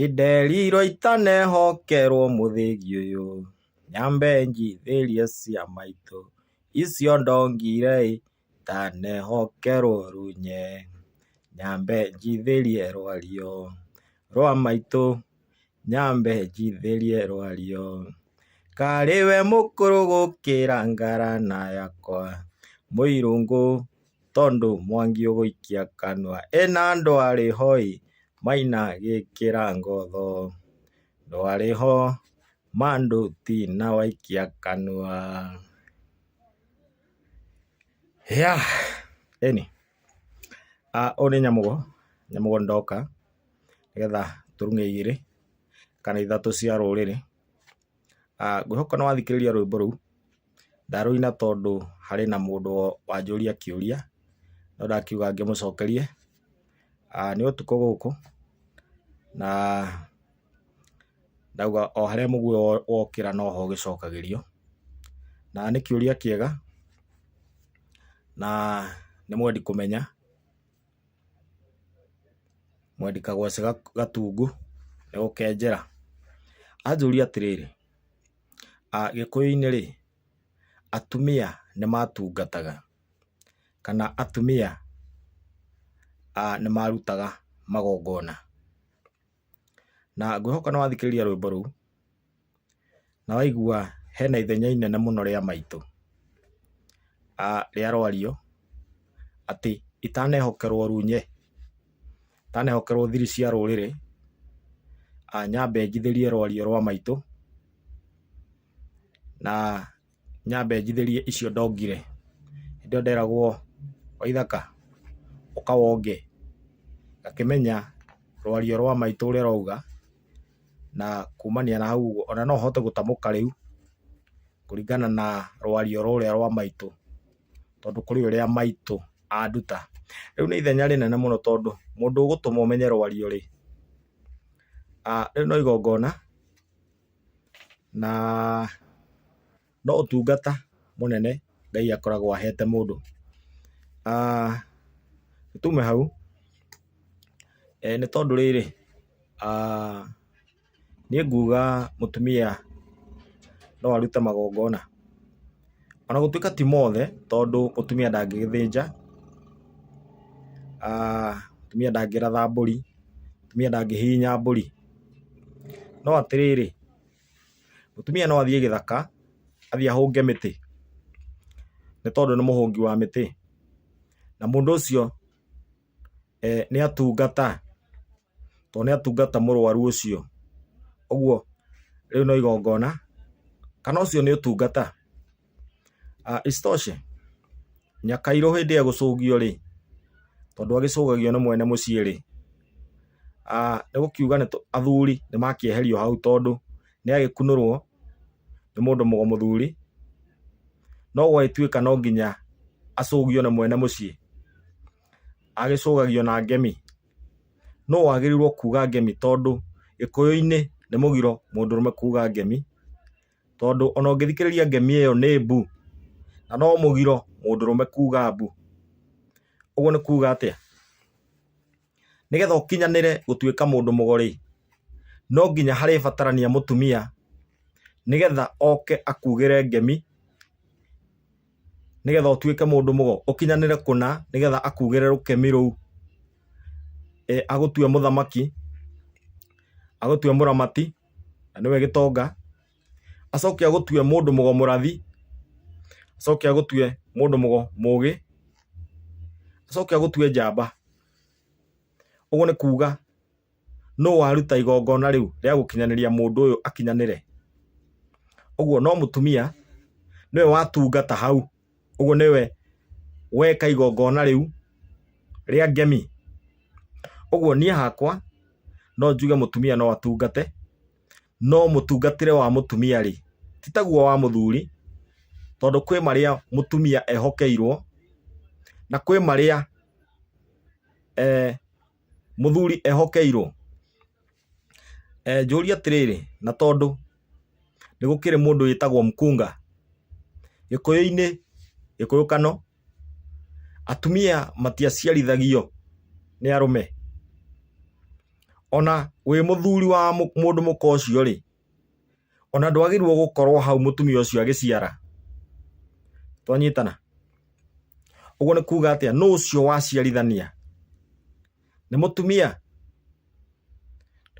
Inderirwo itanehokerwo mũthĩgi ũyũ, nyambe njithĩrie cia maitũ, icio ndongire ĩ, itanehokerwo runye, nyambe njithĩrie rwario rwa maitũ, nyambe njithĩrie rwario, karĩ we mũkũrũ gũkĩra ngara na yakwa, mũirũngũ. Tondũ Mwangi ũgũikia kanua ena ndwarĩ ho ĩ, Maina gĩkĩra ngotho ndwarĩ ho ma ndũ ti na waikia kanua. Yah! Ĩni, ũyũ nĩ Nyamũgo, Nyamũgo ndoka nĩgetha tũrung'e igĩrĩ kana ithatũ cia rũrĩrĩ Ah, ngwĩhoka nĩwathikĩrĩria rwĩmbo rũu. Ndarũina tondũ harĩ na mũndũ wanjũria kĩũria, no ndakiuga ngĩmũcokerie. Ah, nĩ ũtukũ gũkũ, na ndauga o harĩa mũguĩ wokĩra noho ũgĩcokagĩrio. Na nĩ kĩũria kĩega, na nĩ mwendi kũmenya. Mwendi Kagwacĩ Gatungu nĩ gũkenjera anjũria atĩrĩrĩ, Gĩkũyũ-inĩ rĩ, atumia nĩ matungataga kana atumia nĩ marutaga magongona? Na ngwĩhoka nĩ wathikĩrĩria rwĩmbo rũu. Na waigua hena ithenya inene mũno rĩa maitũ, rĩa rwario atĩ itanehokerwo runye, itanehokerwo thiri cia rũrĩrĩ, nyambe njithĩrie rwario rwa maitũ, na nyambe njithĩrie icio ndongire. Hĩndĩ ĩyo nderagwo Waithaka ũka wonge, ngakĩmenya rwario rwa maitũ ũrĩa rwauga, na kumania na hau ũguo ona no hote gũtamũka rĩu kũringana na rwario rũrĩa rwa maitũ, tondũ kũrĩ ũrĩa maitũ anduta. Rĩu nĩ ithenya rĩnene mũno tondũ mũndũ ũgũtũma ũmenye rwario-rĩ, rĩu no igongona. na no ũtungata mũnene Ngai akoragwo ahete mũndũ. Tume hau, nĩ tondũ rĩrĩ, niĩ nguga mũtumia no arute magongona, o na gũtuĩka ti mothe tondũ mũtumia ndangĩgĩthĩnja, mũtumia ndangĩratha mbũri, mũtumia ndangĩhihinya mbũri. No atĩrĩrĩ, mũtumia no athiĩ gĩthaka, athiĩ ahũnge mĩtĩ, nĩ tondũ nĩ mũhũngi wa mĩtĩ, na mũndũ ũcio nĩ atungata, tondũ nĩ atungata mũrwaru ũcio. Ũguo rĩu no igongona, kana ũcio nĩ ũtungata. Isitoshe, Nyakairũ hĩndĩ ĩyo egũcũgio rĩ, tondũ agĩcũgagio nĩ mwene mũciĩ rĩ, nĩ gũkiuga athuri nĩ makĩeherio hau tondũ nĩ agĩkunũrwo nĩ mũndũ mũthuri, no gwagĩtuĩka no nginya acũgio nĩ mwene mũciĩ, agĩcũgagio na ngemi. Nũ wagĩrĩirwo kuga ngemi tondũ Gĩkũyũ-inĩ nĩ mũgiro mũndũrũme kuga ngemi, tondũ ona ũngĩthikĩrĩria ngemi ĩyo nĩ mbu, na no mũgiro mũndũrũme kuga mbu. Ũguo nĩ kuga atĩa? Nĩgetha ũkinyanĩre gũtuĩka mũndũ mũgo-rĩ, no nginya harĩbatarania mũtumia nĩgetha oke akugĩre ngemi. nĩgetha ũtuĩke mũndũ mũgo, ũkinyanĩre kũna nĩgetha akuugĩre rũkemi rũu, e, agũtue mũthamaki, agũtue mũramati, na nĩwe gĩtonga, acoke agũtue mũndũ mũgo mũrathi, acoke agũtue mũndũ mũgo mũgĩ, acoke agũtue njamba. Ũguo nĩ kuuga Nũ waruta igongona rĩu rĩa gũkinyanĩria mũndũ ũyũ akinyanĩre? Ũguo no mũtumia nĩwe watungata hau, ũguo nĩwe weka igongona rĩu rĩa ngemi. Ũguo niĩ hakwa no njuge mũtumia no atungate, no mũtungatĩre wa mũtumia-rĩ, ti taguo wa mũthuri, tondũ kwĩ marĩa mũtumia ehokeirwo, na kwĩ marĩa Mũthuri ehokeirwo? Njũrie atĩrĩrĩ, na tondũ nĩ gũkĩrĩ mũndũ wĩtagwo mkunga, gĩkũyũ-inĩ, gĩkũyũ kano, atumia matiaciarithagio nĩ arũme? Ona wĩ mũthuri wa mũndũ mũka ũcio rĩ, Ona ndwagĩrĩirwo gũkorwo hau mũtumia ũcio agĩciara. Twanyitana? Ũguo nĩ kuuga atĩa? Nũ ũcio waciarithania? Nĩ mũtumia?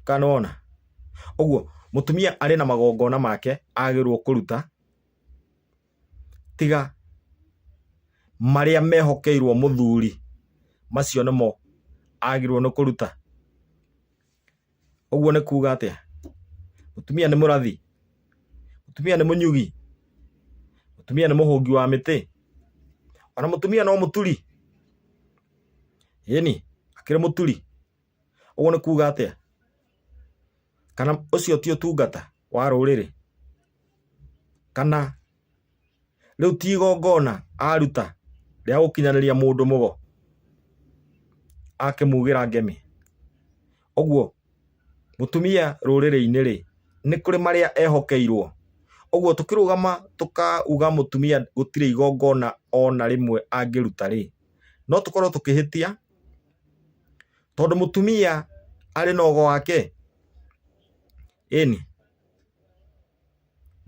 Kana nĩwona? Ũguo mũtumia arĩ na magongona make agĩrĩirwo kũruta tiga marĩa mehokeirwo mũthuri macio nĩmo agĩrĩirwo nĩ kũruta. Ũguo nĩ kuuga atĩa? Mũtumia nĩ mũrathi? Mũtumia nĩ mũnyugi? Mũtumia nĩ mũhũngi wa mĩtĩ? Ona mũtumia no mũturi? Ĩni, akĩrĩ mũturi. Ũguo nĩ kuuga atĩa? Kana ũcio ti ũtungata wa rũrĩrĩ? Kana rĩu ti igongona aruta rĩa gũkinyanĩria mũndũ mũgo akĩmugĩra ngemi ũguo mũtumia rũrĩrĩ-inĩ rĩ nĩ kũrĩ marĩa ehokeirwo ũguo tũkĩrũgama tũkauga mũtumia gũtirĩ igongona ona rĩmwe angĩruta rĩ no tũkorwo tũkĩhĩtia tondũ mũtumia arĩ na ogo wake. ĩni?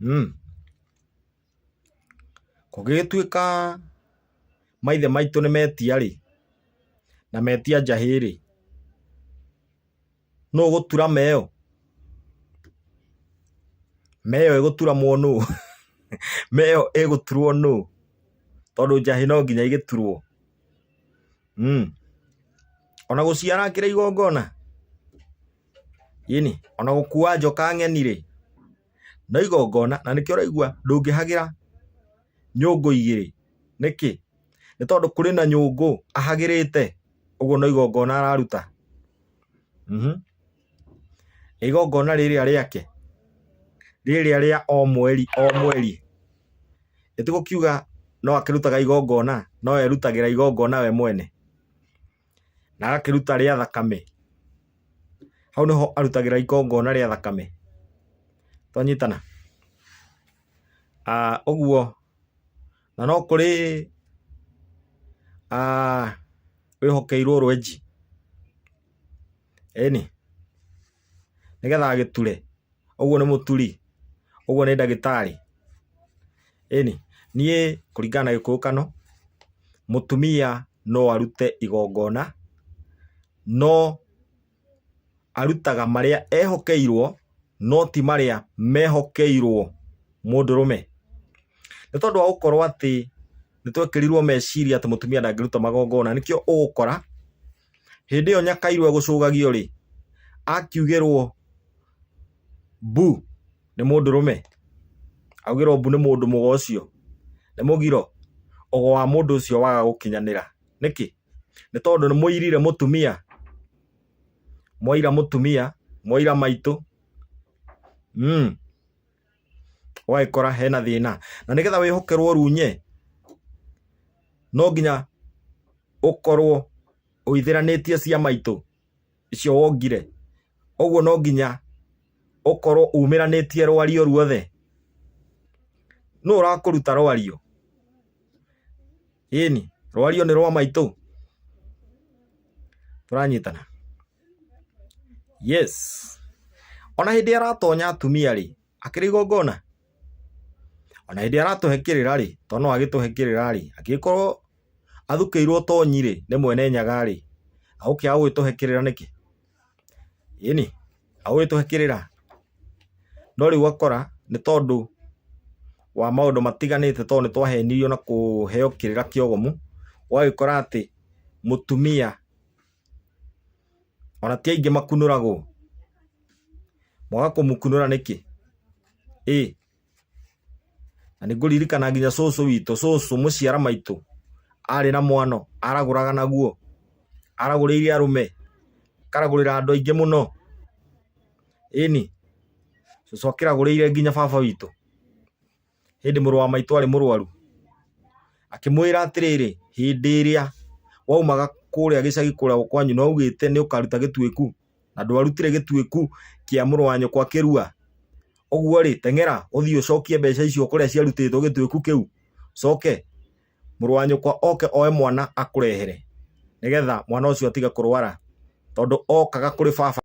umm Kũgĩgĩtuĩka maithe maitũ nĩ metia-rĩ, na metia njahĩ-rĩ, nũũ ũgũtura meo? Meo ĩgũturamwo nũũ? Meo ĩgũturwo nũũ? Tondũ njahĩ no nginya igĩturwo. mm. ona gũciara kĩrĩ igongona yini ona gũkua njoka ng'eni rĩ no igongona na nĩkĩo ũraigua ndũngĩhagĩra nyũngũ igĩrĩ nĩkĩ nĩ tondũ kũrĩ na nyũngũ ahagĩrĩte ũguo no igongona araruta mm -hmm. Nĩ igongona rĩrĩa rĩake rĩrĩa rĩa o mweri o mweri. Nĩ tũgũkiuga no akĩrutaga igongona, no erutagĩra igongona we mwene na agakĩruta rĩa thakame. Hau nĩho arutagĩra igongona rĩa thakame. Twanyitana? Ũguo na no kũrĩ wĩhokeirwo rwenji. Ĩni, nĩgetha agĩture, ũguo nĩ mũturi, ũguo nĩ ndagĩtarĩ. Ĩni, niĩ kũringana na gĩkũyũkano, mũtumia no arute igongona, no arutaga marĩa ehokeirwo, no ti marĩa mehokeirwo mũndũrũme. Nĩ tondũ wa gũkorwo atĩ nĩ twekĩrirwo meciria atĩ mũtumia ndangĩruta magongona, nĩkĩo ũgũkora Hĩndĩ ĩyo Nyakairũ egũcũgagio rĩ, akiugĩrwo mbu nĩ mũndũrũme, augĩrwo mbu nĩ mũndũ mũgo ũcio, nĩ mũgiro, ũgo wa mũndũ ũcio waga gũkinyanĩra. Nĩkĩ? Nĩ tondũ nĩ mũirire mũtumia, mwaira mũtumia, mwaira maitũ. ũgagĩkora hena thĩna na nĩgetha wĩhokerwo runye no nginya ũkorwo ũithĩranĩtie ciama itũ icio wongire ũguo no nginya ũkorwo umĩranĩtie rwario ruothe nũ ũrakũruta rwario Ĩni, rwario nĩ rwa maitũ. Tũranyitana. Yes. Ona hĩndĩ aratonya atumia rĩ, akĩrĩ igongona. Ona hĩndĩ aratũhe kĩrĩra rĩ, to no agĩtũhe kĩrĩra rĩ, agĩkorwo athukĩirwo tonyi rĩ, nĩ mwene nyaga rĩ, agũkĩaga gũgĩtũhe kĩrĩra nĩkĩ? ĩni agũgĩtũhakĩrĩra no rĩu ũgakora nĩ tondũ wa maũndũ matiganĩte tondũ nĩ twahenirio na kũheo kĩrĩra kĩogomu ũgagĩkora atĩ mũtumia ona ti aingĩ makunũragwo mwaga kũmũkunũra nĩkĩ? ĩ. Na nĩngũririkana nginya cũcũ witũ, cũcũ mũciara maitũ, arĩ na mwano, aragũraga naguo. Aragũrĩire arũme, akaragũrĩra andũ aingĩ mũno. Ĩni, cũcũ akĩragũrĩire nginya baba witũ, ĩndĩ mũrũ wa maitũ arĩ mũrwaru, akĩmwĩra atĩrĩrĩ, hĩndĩ ĩrĩa waumaga kũrĩa gĩcagi kũrĩa kwanyu na ũgĩte nĩũkaruta gĩtuĩku. na ndwarutire gĩtuĩku kĩa mũrũ wa nyũkwa kĩrua. Ũguo-rĩ, teng'era ũthiĩ ũcokie mbeca icio kũrĩa ciarutĩtwo gĩtuĩku kĩu, coke mũrũ wa nyũkwa oke oe mwana akũrehere, nĩgetha mwana ũcio atige kũrwara, tondũ okaga kũrĩ baba.